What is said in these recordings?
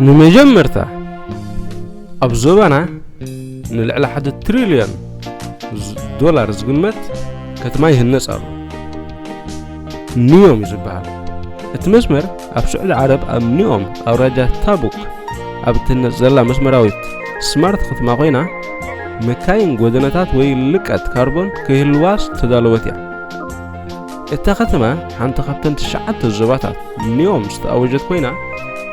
ንመጀመርታ ኣብ ዞባና ንልዕሊ ሓደ ትሪልዮን ዶላር ዝግመት ከተማ ይህነፅ ኣሎ ኒዮም እዩ ዝበሃል እቲ መስመር ኣብ ስዑዲ ዓረብ ኣብ ኒኦም ኣውራጃ ታቡክ ኣብ እትህነፅ ዘላ መስመራዊት ስማርት ከተማ ኮይና መካይን ጎደናታት ወይ ልቀት ካርቦን ከይህልዋስ ተዳለወት እያ እታ ከተማ ሓንቲ ካብተን ትሽዓተ ዞባታት ንዮም ዝተኣወጀት ኮይና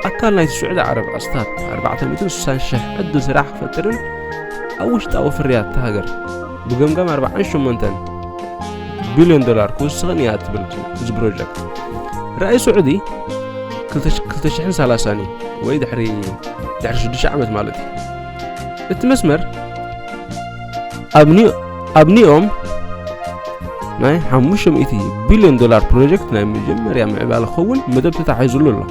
ኣካል ናይቲ ስዑዲ ዓረብ ኣስታት 460 ሽሕ ዕድል ስራሕ ክፈጥርን ኣብ ውሽጣዊ ፍርያት እታ ሃገር ብገምጋም 48 ቢልዮን ዶላር ክውስኽን እያ ትብል እዚ ፕሮጀክት ራእይ ስዑዲ 230 እዩ ወይ ድሕሪ ድሕሪ 6 ዓመት ማለት እዩ እቲ መስመር ኣብ ኒኦም ናይ 500 ቢልዮን ዶላር ፕሮጀክት ናይ መጀመርያ ምዕባለ ክኸውን መደብ ተታሒዙሉ ኣሎ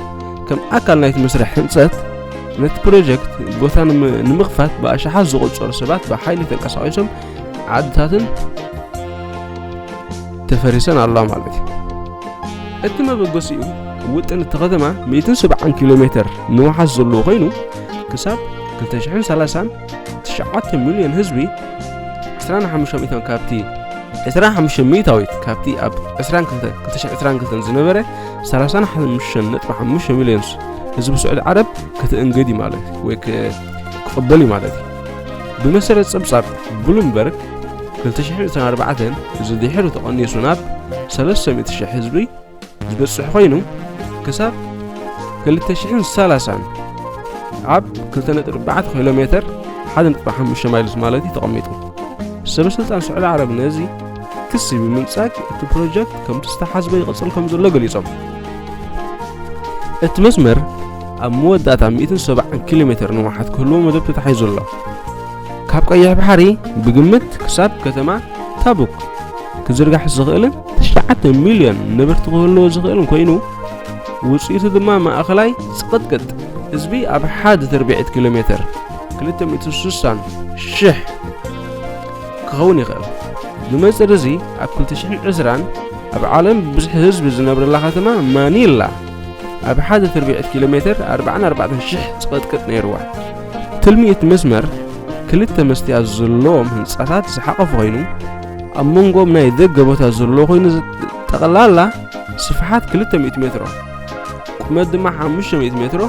ከም ኣካል ናይቲ መስርሕ ህንፀት ነቲ ፕሮጀክት ቦታ ንምኽፋት ብኣሽሓት ዝቖፀሩ ሰባት ብሓይሊ ተንቀሳቒሶም ዓድታትን ተፈሪሰን ኣለዋ ማለት እዩ እቲ መበገሲኡ ውጥን እቲ ከተማ 170 ኪሎ ሜትር ንውሓስ ዘለዎ ኮይኑ ክሳብ 230 ትሽዓተ ሚልዮን ህዝቢ ዕስራን ሓሙሽተ ሚእታን ካብቲ ዕስራ ሓሙሽተ ሚእታዊት ካብቲ ኣብ ዕስራን ክልተን ክልተ ሽሕ ዕስራን ክልተን ዝነበረ ሰላሳን ሓሙሽተን ነጥቢ ሓሙሽተ ሚልዮን ህዝቢ ስዑድ ዓረብ ክትእንግድ እዩ ማለት እዩ ወይ ክቕበል እዩ ማለት እዩ ብመሰረት ጸብጻብ ብሉምበርግ 2024 እዚ ድሒሩ ተቐኒሱ ናብ 300,000 ህዝቢ ዝበጽሕ ኮይኑ ክሳብ 2030 ኣብ 2.4 ኪሎ ሜተር 1.5 ማይልስ ማለት እዩ ተቐሚጡ ሰበ ስልጣን ስዑዲ ዓረብ ነዚ ክሲ ብምንጻግ እቲ ፕሮጀክት ከምቲ ዝተሓዝበ ይቕጽል ከም ዘሎ ገሊጾም እቲ መስመር ኣብ መወዳእታ 170 ኪሎ ሜተር ንውሓት ክህልዎ መደብ ተታሒዙ ኣሎ ካብ ቀይሕ ባሕሪ ብግምት ክሳብ ከተማ ታቡክ ክዝርጋሕ ዝኽእልን ትሽዓተ ሚልዮን ንብርቲ ክህልዎ ዝኽእልን ኮይኑ ውፅኢቱ ድማ ማእኸላይ ፅቕጥቅጥ ህዝቢ ኣብ ሓደ ትርብዒት ኪሎ ሜትር 260 ሽሕ ክኸውን ይኽእል ብመንፅር እዚ ኣብ 2020 ኣብ ዓለም ብዝሒ ህዝቢ ዝነብረላ ከተማ ማኒላ ኣብ ሓደ ትርብዒት ኪሎ ሜትር 44 ሽሕ ፅቕጥቅጥ ነይርዋ ትልሚ እቲ መስመር ክልተ መስትያት ዘለዎም ህንጻታት ዝሓቐፈ ኮይኑ ኣብ መንጎም ናይ ደገ ቦታ ዘለዎ ኮይኑ ጠቕላላ ስፍሓት 200 ሜትሮ ቁመት ድማ 500 ሜትሮ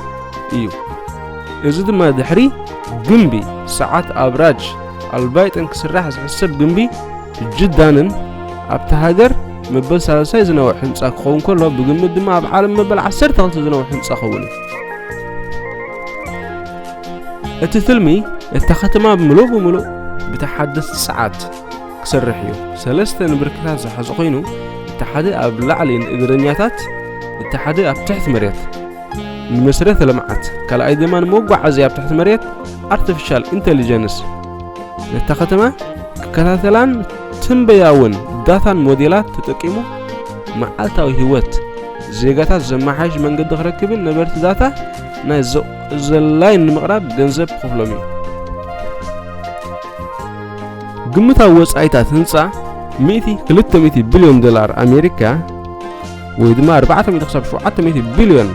እዩ እዚ ድማ ድሕሪ ግንቢ ሰዓት ኣብራጅ ኣልባይጥን ክስራሕ ዝሕሰብ ግንቢ ጅዳንን ኣብቲ ሃገር መበል ሳልሳይ ዝነውሕ ህንፃ ክኸውን ከሎ ብግምት ድማ ኣብ ዓለም መበል 12 ዝነውሕ ህንፃ ክኸውን እዩ እቲ ፍልሚ እታ ከተማ ብምሉእ ብምሉእ ብተሓደስቲ ሰዓት ክሰርሕ እዩ ሰለስተ ንብርክታት ዝሓዘ ኮይኑ እቲ ሓደ ኣብ ላዕሊ ንእግረኛታት እቲ ሓደ ኣብ ትሕቲ መሬት ንመስረተ ልምዓት ካልኣይ ድማ ንመጓዓዚ ኣብ ትሕቲ መሬት ኣርቲፊሻል ኢንቴሊጀንስ ነታ ከተማ ክከታተላን ትንበያውን ዳታን ሞዴላት ተጠቂሙ መዓልታዊ ህይወት ዜጋታት ዘመሓይሽ መንገዲ ክረክብን ነበርቲ ዳታ ናይ ዘላይን ንምቕራብ ገንዘብ ክኽፍሎም እዩ። ግምታዊ ወጻኢታት ህንጻ ሚእቲ ክልተ ሚእቲ ቢልዮን ዶላር ኣሜሪካ ወይ ድማ ኣርባዕተ ሚእቲ ክሳብ ሸውዓተ ሚእቲ ቢልዮን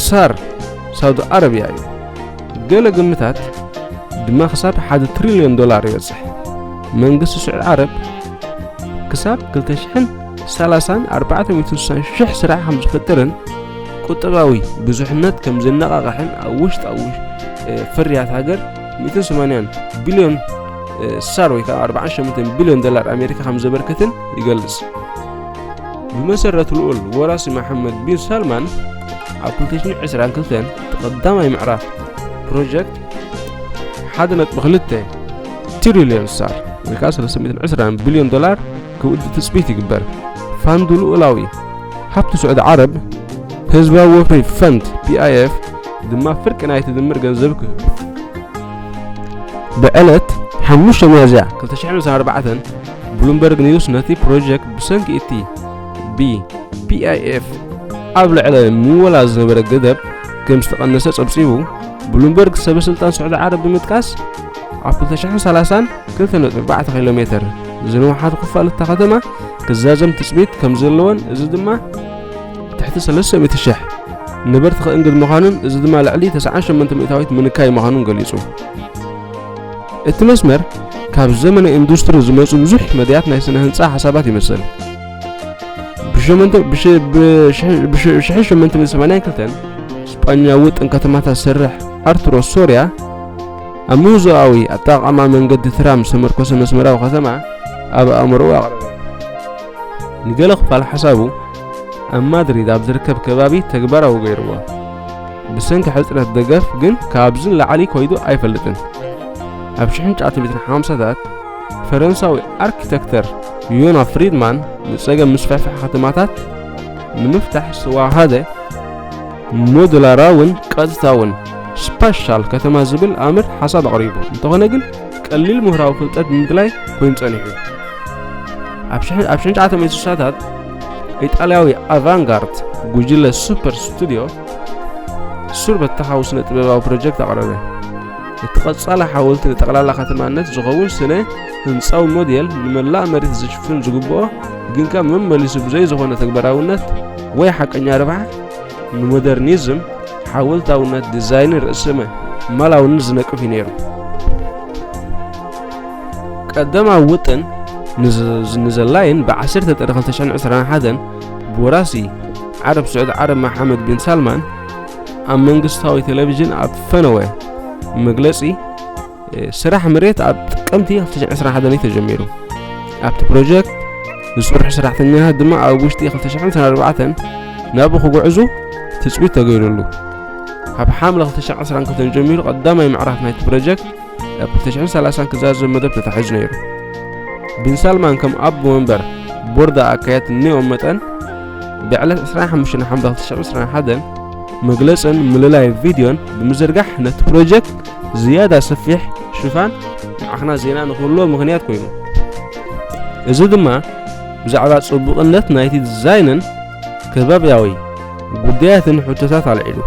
ሳር ሳውዲ ኣረብያ እዩ። ገለ ግምታት ድማ ክሳብ ሓደ ትሪልዮን ዶላር ይበጽሕ። መንግስቲ ስዑድ ዓረብ ክሳብ ክልተ ሽሕን ሰላሳን ኣርባዕተ ሚእቲ ስሳን ሽሕ ስራሕ ከም ዝፈጥርን ቁጠባዊ ብዙሕነት ከም ዝነቓቕሕን ኣብ ውሽጣዊ ፍርያት ሃገር 180 ቢልዮን ሳር ወይ ከዓ 48 ቢልዮን ዶላር ኣሜሪካ ከም ዘበርክትን ይገልጽ ብመሰረት ልኡል ወራሲ መሓመድ ቢን ሳልማን ኣብ 2022 ተቐዳማይ ምዕራፍ ፕሮጀክት 1.2 ትሪልዮን ሳር ወይ ከዓ 320 ቢልዮን ዶላር ክውድእ ትጽቢት ይግበር። ፋንድ ልኡላዊ ሃብቲ ስዑዲ ዓረብ፣ ህዝባዊ ወፍሪ ፈንድ፣ PIF፣ ድማ ፍርቂ ናይቲ ድምር ገንዘብ ክህብ እዩ። ብዕለት ሓሙሽተ ሚያዝያ ክልተ ሽሕን ዒስራን ኣርባዕተን ብሉምበርግ ኒውስ ነቲ ፕሮጀክት ብሰንኪ እቲ ብ PIF ኣብ ልዕሊ ምወላ ዝነበረ ገደብ ከም ዝተቐነሰ ጸብጺቡ። ብሉምበርግ ሰበ ስልጣን ስዑዲ ዓረብ ብምጥቃስ ኣብ ክልተ ሽሕን ሰላሳን ክልተ ነጥቢ ኣርባዕተ ኪሎ ሜተር ዝንውሓት ክፋል እታ ከተማ ክዛዘም ትፅቢት ከም ዘለዎን እዚ ድማ ትሕቲ ሰለስተ ሚእቲ ሽሕ ነበርቲ ከእንግድ ምዃኑን እዚ ድማ ልዕሊ 98 ሚእታዊት ምንካይ ምዃኑን ገሊጹ እቲ መስመር ካብ ዘመነ ኢንዱስትሪ ዝመፁ ብዙሕ መድያት ናይ ስነ ህንፃ ሓሳባት ይመስል ብ1882 ስጳኛዊ ጥን ከተማታት ዝሰርሕ ኣርቱሮ ሶርያ ኣብ ምውዞኣዊ ኣጠቓቕማ መንገዲ ትራም ዝተመርኮሰ መስመራዊ ከተማ ኣብ ኣእምሮኡ ኣቕረበ። ንገለ ክፋል ሓሳቡ ኣብ ማድሪድ ኣብ ዝርከብ ከባቢ ተግባራዊ ገይርዎ። ብሰንኪ ሕጽረት ደገፍ ግን ካብዚ ላዕሊ ኮይዱ ኣይፈልጥን። ኣብ 1950ታት ፈረንሳዊ ኣርኪተክተር ዮና ፍሪድማን ንጸገም ምስፍሕፋሕ ከተማታት ንምፍታሕ ዝተዋሃደ ሞዱላራውን ቀጥታውን ስፓሻል ከተማ ዝብል ኣምር ሓሳብ ኣቕሪቡ እንተኾነ ግን ቀሊል ምሁራዊ ፍልጠት ብምድላይ ኮይኑ ጸኒሑ ኣብ ሽሕ ኣብ ሽሕ ዓተመ ስሳታት ኢጣልያዊ ኣቫንጋርድ ጉጅለ ሱፐር ስቱድዮ ሱር በተኻዊ ስነ ጥበባዊ ፕሮጀክት ኣቕረበ እቲ ቐጻሊ ሓወልቲ ንጠቕላላ ከተማነት ዝኸውን ስነ ህንፃዊ ሞዴል ንመላእ መሬት ዝሽፍን ዝግብኦ ግን ከ መመሊሱ ብዘይ ዝኾነ ተግባራውነት ወይ ሓቀኛ ርብሓ ንሞደርኒዝም ሓወልታውነት ዲዛይንን ርእሰ መላውንን ዝነቅፍ እዩ ነይሩ ቀደማዊ ውጥን ንዘላይን ብዓሰርተ ጥሪ 221 ብወራሲ ዓረብ ስዑድ ዓረብ መሓመድ ቢን ሳልማን ኣብ መንግስታዊ ቴሌቭዥን ኣብ ፈነወ መግለጺ ስራሕ መሬት ኣብ ጥቅምቲ 2021 እዩ ተጀሚሩ ኣብቲ ፕሮጀክት ዝስርሑ ሰራሕተኛታት ድማ ኣብ ውሽጢ 2024 ናብኡ ክጉዕዙ ትፅቢት ተገይሩሉ ካብ ሓምለ 2020 ከተጀሚሩ ቀዳማይ ምዕራፍ ናይቲ ፕሮጀክት ኣብ 2030 ክዛዘብ መደብ ተታሒዙ ነይሩ ቢን ሳልማን ከም ኣቦ መንበር ቦርዳ ኣካየት እኒኦም መጠን ብዕለት 25 ሓምለ 2021 መግለፅን ምልላይ ቪድዮን ብምዝርጋሕ ነቲ ፕሮጀክት ዝያዳ ሰፊሕ ሽፋን ንዓኽና ዜና ንክህልዎ ምኽንያት ኮይኑ እዚ ድማ ብዛዕባ ጽቡቕነት ናይቲ ዲዛይንን ከባብያዊ ጉዳያትን ሕቶታት ኣልዒሉ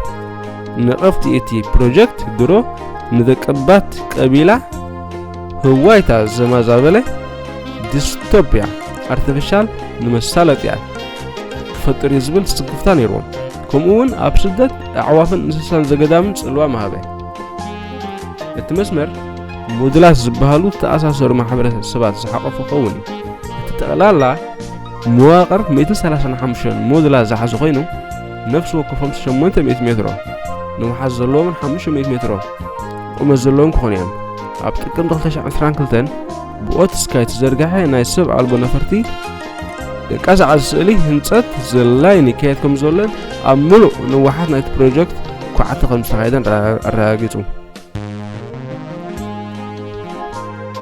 ነቐፍቲ እቲ ፕሮጀክት ድሮ ንደቀባት ቀቢላ ህዋይታ ዘማዛበለ ዲስቶፒያ ኣርቲፊሻል ንመሳለጥያ ክፈጥር እዩ ዝብል ስክፍታ ነይርዎም ከምኡ እውን ኣብ ስደት ኣዕዋፍን እንስሳን ዘገዳምን ጽልዋ መሃበ እቲ መስመር ሞዱላት ዝበሃሉ ዝተኣሳሰሩ ማሕበረሰባት ዝሓቆፈ ክኸውን እዩ እቲ ጠቕላላ መዋቕር 135 ሞዱላት ዝሓዘ ኮይኑ ነፍሲ ወከፎም 800 ሜትሮ ንውሓት ዘለዎምን 500 ሜትሮ ቁመት ዘለዎም ክኾኑ እዮም ኣብ ጥቅምቲ 2022 ብኦት ስካይ ዝተዘርግሐ ናይ ሰብ ኣልቦ ነፈርቲ ቀዛዕዚ ስእሊ ህንፀት ዝላይን ይካየድ ከም ዘሎን ኣብ ምሉእ ንዋሓት ናይቲ ፕሮጀክት ኳዕቲ ከም ዝተኻየደን ኣረጋጊጹ